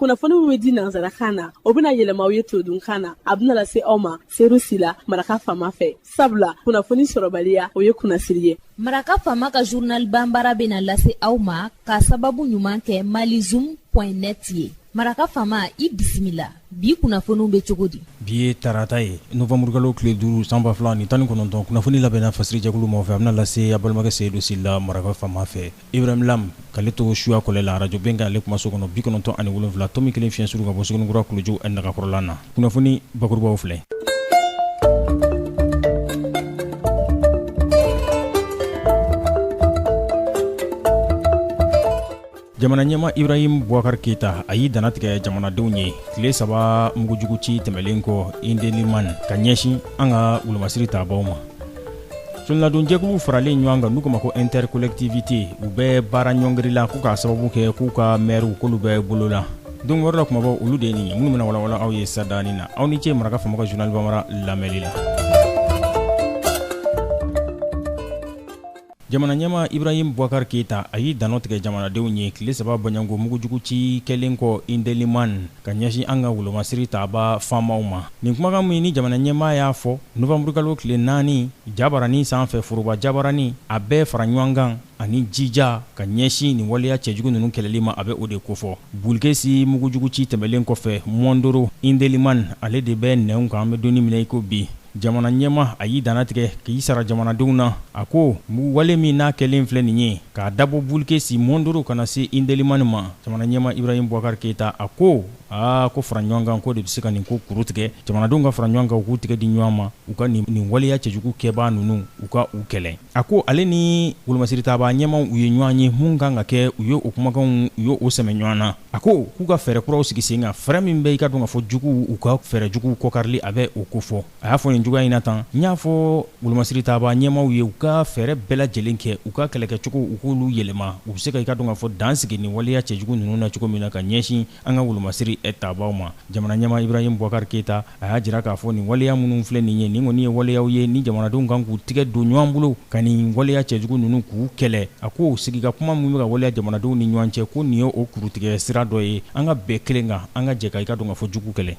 kunnafoni min bɛ di nanzarakan na o bɛna yɛlɛma aw ye todunkan na a bɛna lase aw ma seyidu sila maraka faama fɛ sabula kunnafoni sɔrɔbaliya o ye kunnasiri ye maraka faama ka journal bambara bɛna lase aw ma ka sababu ɲuman kɛ malizoom point net ye maraka faama i bisimila bi kunnafoniw bɛ cogo di bi ye tarata ye novanburukalo tile duuru sanba fila ni tan ni kɔnɔntɔn kunnafoni labɛnna fasiri jɛkulu maa fɛ a bɛna lase a balimakɛ seyidu sila maraka faama fɛ Ibrahim Lam k'ale to suya kɔlɛ la radio Bɛnkan ale kumaso kɔnɔ 97.1 fiɲɛ suru ka bɔ Suguninkura, kuluju nagakɔrɔla na. Kunnafoni bakurubaw filɛ. Jamana ɲɛmaa Ibrahim Boubacar Keita a y'i dannatigɛ jamanadenw ye tile saba mugujugu ci tɛmɛlen kɔ Indelimane ka ɲɛsin an ka wolomasiri taabaw ma. Soladonjɛkulu faralen ɲɔgɔn kan n'u k'a ma ko intercollectivité u bɛ baara ɲɔngiri la k'u k'a sababu kɛ k'u ka mɛriw k'olu bɛ bolo la don wɛrɛ la kumabaw olu de ye nin ye minnu bɛna walawala aw ye sadani na aw ni ce maraka faama ka journal bambara lamɛnli la jamana ɲɛma ibrahim boubacar keita a y'i dannatigɛ jamanadenw ye tile saba bɔɲɔgɔnko mugujugu ci kɛlen kɔ indeliman ka ɲɛsin an ka wolomasiri taaba faamaw ma. Nin kumakan min ni jamana ɲɛmaa y'a fɔ novanburukalo tile naani jabaranin sanfɛ foroba jabaranin, a bɛɛ faraɲɔankan ani jija ka ɲɛsin nin waleya cɛjugu ninnu kɛlɛli ma, a bɛ o de kofɔ. Bulkesi mugujuguci tɛmɛlen kɔfɛ, Mɔndoro Indelimani, ale de bɛ nɛnw kan, an bɛ donni min na i ko bi. Jamana ɲɛma a y'i dannatigɛ k'i sara jamanadenw na a ko wale min n'a kɛlen filɛ nin ye k'a dabɔ bulikesi mondoro ka na se indelimani ma jamana ɲɛma ibrahim boubacar keita a ko aa ko fara ɲɔgɔnkan ko de bɛ se ka nin ko kurutigɛ jamanadenw ka fara ɲɔgɔn kan u k'u tigɛ di ɲɔgɔn ma u ka nin waleya cɛjugu kɛbaa ninnu u ka u kɛlɛ a ko ale ni wolomasiri taabaa ɲɛmaw u ye ɲɔgɔn ye mun kan ka kɛ u ye o kumakanw u ye o sɛmɛ ɲɔgɔn na A ko k'u ka fɛɛrɛ kuraw sigi sen kan fɛɛrɛ min bɛ i ka dɔn ka fɔ juguw u ka fɛɛrɛ juguw kɔ karili a bɛ o kofɔ a y'a fɔ nin cogoya in na tan n y'a fɔ wolomasiri taabaa ɲɛmaaw ye u ka fɛɛrɛ bɛɛ lajɛlen kɛ u ka kɛlɛkɛcogow u k'olu yɛlɛma u bɛ se ka i ka dɔn ka fɔ dan sigi nin waleya cɛjugu ninnu na cogo min na ka ɲɛsin an ka wolomasiri taabaaw ma jamanaɲɛmaa ibrahim boubacar keita a y'a jira k'a fɔ nin waleya minnu filɛ nin ye nin kɔni ye waleyaw ye ni jamanadenw kan k'u tigɛ don ɲɔgɔn bolo ka nin waleya cɛjugu ninnu k'u kɛlɛ a ko sigi ka kuma min bɛ ka waleya jamanadenw ni ɲɔgɔn cɛ ko nin ye o kurutigɛ sira dɔ ye an ka bɛn kelen kan an ka jɛ ka i ka dɔn ka fɔ jugu kɛlɛ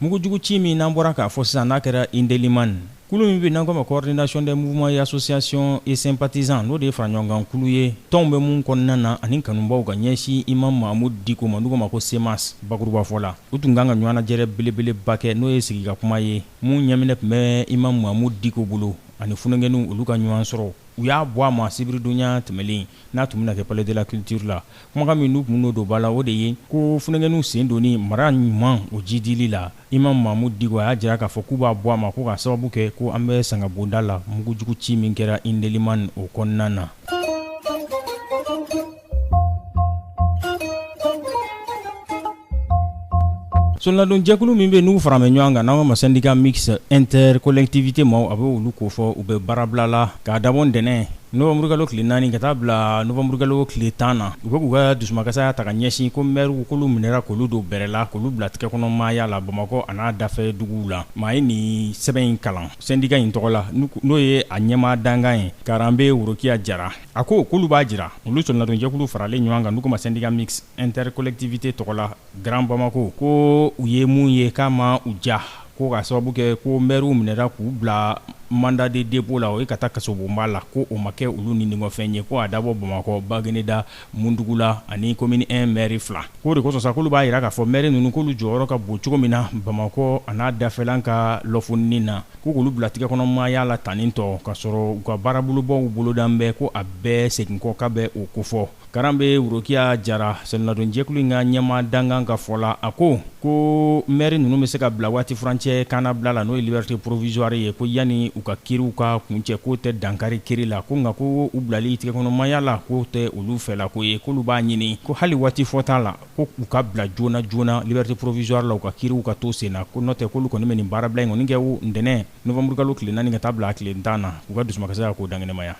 mugujugu ci min n'an bɔra k'a fɔ sisan n'a kɛra indeliman Kulu min bɛ n'an k'o ma coordination des mouvements et associations et sympathisants n'o de ye faraɲɔgɔnkan kulu ye tɔnw bɛ mun kɔnɔna na ani kanubaaw ka ɲɛsin Imam Mahamud Diko ma n'u k'o ma ko CEMAS bakurubafɔ la, u tun ka kan ka ɲɔgɔnnajɛrɛ belebeleba kɛ n'o ye sigikakuma ye mun ɲɛminɛ tun bɛ Imam Mahamud Diko bolo ani funɛnkɛninw olu ka ɲɔgɔn sɔrɔ u y'a bɔ a ma sibiridonɲa tɛmɛlen n'a tun bɛna kɛ Palais de la Culture la. Kumakan min n'u tun bɛn'o don ba la o de ye ko funɛnkɛninw sen donni mara ɲuman o jidili la, Imam Mahamud Diko a y'a jira k'a fɔ k'u b'a bɔ a ma ko k'a sababu kɛ ko an bɛ sangabonda la mugujugu ci min kɛra Indelimane o kɔnɔna na soronadonjɛkulu min bɛ n'u fara bɛ ɲɔgɔn kan n'an k'a ma syndicat mixte intercollectivités ma a bɛ olu kofɔ u bɛ baarabila la k'a dabɔ ntɛnɛn Nowanburukalo tile naani ka taa bila nowanburukalo tile tan na u bɛ k'u ka dusumakasaya ta ka ɲɛsin ko maires k'olu minɛra k'olu don bɛrɛ la k'olu bila tɛgɛkɔnɔmaaya la Bamakɔ an'a dafɛduguw la maa ye nin sɛbɛn in kalan sendika in tɔgɔ la n'o ye a ɲɛmaa dankan ye Karanbe Worokiya Jara a ko k'olu b'a jira olu soronadonjɛkulu faralen ɲɔgɔn kan n'u k'o ma syndicat mixte intercollectivités tɔgɔ la Grand Bamako ko u ye mun ye k'a ma u diya ko k'a sababu kɛ ko maires minɛra k'u bila mandat de dépôt la o ye ka taa kasobonba la ko o ma kɛ olu nidungɔfɛn ye ko a dabɔ Bamakɔ Bagineda Mundugula ani commune I maire fila k'o de kosɔn sa k'olu b'a jira k'a fɔ maires ninnu k'olu jɔyɔrɔ ka bon cogo min na Bamakɔ an'a dafɛlan ka lɔfoninni na ko k'olu bila tigɛkɔnɔmaaya la tantɔ k'a sɔrɔ u ka baarabolobaw bolodan bɛ ko a bɛɛ segin kɔ k'a bɛ o kofɔ. Karanbe Worokiya Jara soronadonjɛkulu in ka ɲɛmaa dankan ka fɔ la a ko ko maires ninnu bɛ se ka bila waatifurancɛ kannabila la n'o ye liberté provisoire ye ko yanni u ka kiiriw ka kuncɛ k'o tɛ dankari kiiri la ko nka ko u bilali tigɛkɔnɔmaaya la k'o tɛ olu fɛ la ko ye k'olu b'a ɲini ko hali waati fɔta la ko u ka bila joona joona liberté provisoire la u ka kiiriw ka to sen na ko n'o tɛ k'olu kɔni bɛ nin baarabila in kɔni kɛ ntɛnɛn nowanburukalo tile naani ka taa bila a tile tan na u ka dusukasi k'o dankɛnɛmaya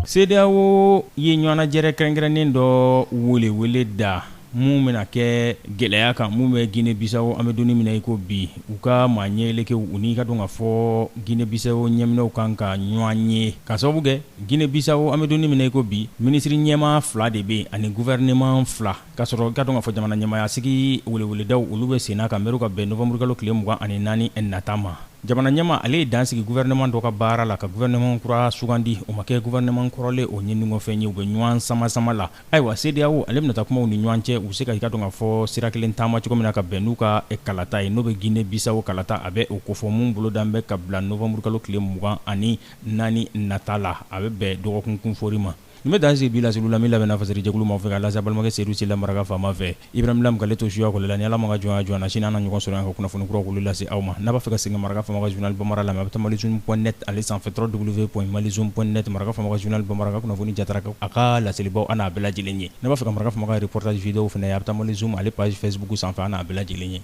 CEDEAO ye ɲɔgɔnnajɛrɛ kɛrɛnkɛrɛnnen dɔ welewele da mun bɛna kɛ gɛlɛya kan min bɛ Guinée-Bissau an bɛ don min na i ko bi u ka maa ɲɛeleke u n'i k'a dɔn k'a fɔ Guinée-Bissau ɲɛminɛw ka kan ka ɲɔgɔn ye k'a sababu kɛ Guinée-Bissau an bɛ don min na i ko bi minisiriɲɛmaa fila de bɛ ani gouvernement fila K'a sɔrɔ i k'a dɔn k'a fɔ jamanaɲɛmaayasigi weleweledaw olu bɛ senna ka mɛru ka bɛn nowanburukalo tile mugan ani naani nata ma jamanaɲɛmaa ale ye dan sigi gouvernement dɔ ka baara la ka gouvernement kura sugandi o ma kɛ gouvernement kɔrɔlen o nidungɔfɛn ye u bɛ ɲɔgɔn samasama la ayiwa CEDEAO ale bɛna taa kuma u ni ɲɔgɔn cɛ u se ka i k'a dɔn k'a fɔ sira kelen taama cogo min na ka bɛn n'u ka kalata ye n'o bɛ Guinée-Bissau kalata a bɛ o kofɔ mun bolodan bɛ ka bila nowanburukalo tile mugan ani naani nata la a bɛ bɛn dɔgɔkunkunfɔri ma Nin bɛ dan sigi bi laseliw la min labɛnna faserijɛkulu maaw fɛ ka lase a balimakɛ Sedu Sila maraka faama fɛ Ibrahim Lam k'ale to suya kɔli la ni Ala m'a ka jɔnya jɔ an na sini an na ɲɔgɔn sɔrɔ yan ka kunnafoni kuraw k'olu lase aw ma n'a b'a fɛ ka segin ka maraka faama ka journal Bamara lamɛn a bɛ taa malizoom point net ale sanfɛ www.malizoom point net maraka faama ka journal Bamara a ka kunnafoni jatara a ka laselibaw a n'a bɛɛ lajɛlen ye n'a b'a fɛ ka maraka faama ka reportage vidéos fana ye a bɛ taa malizoom ale page facebook sanfɛ a n'a bɛɛ lajɛlen ye.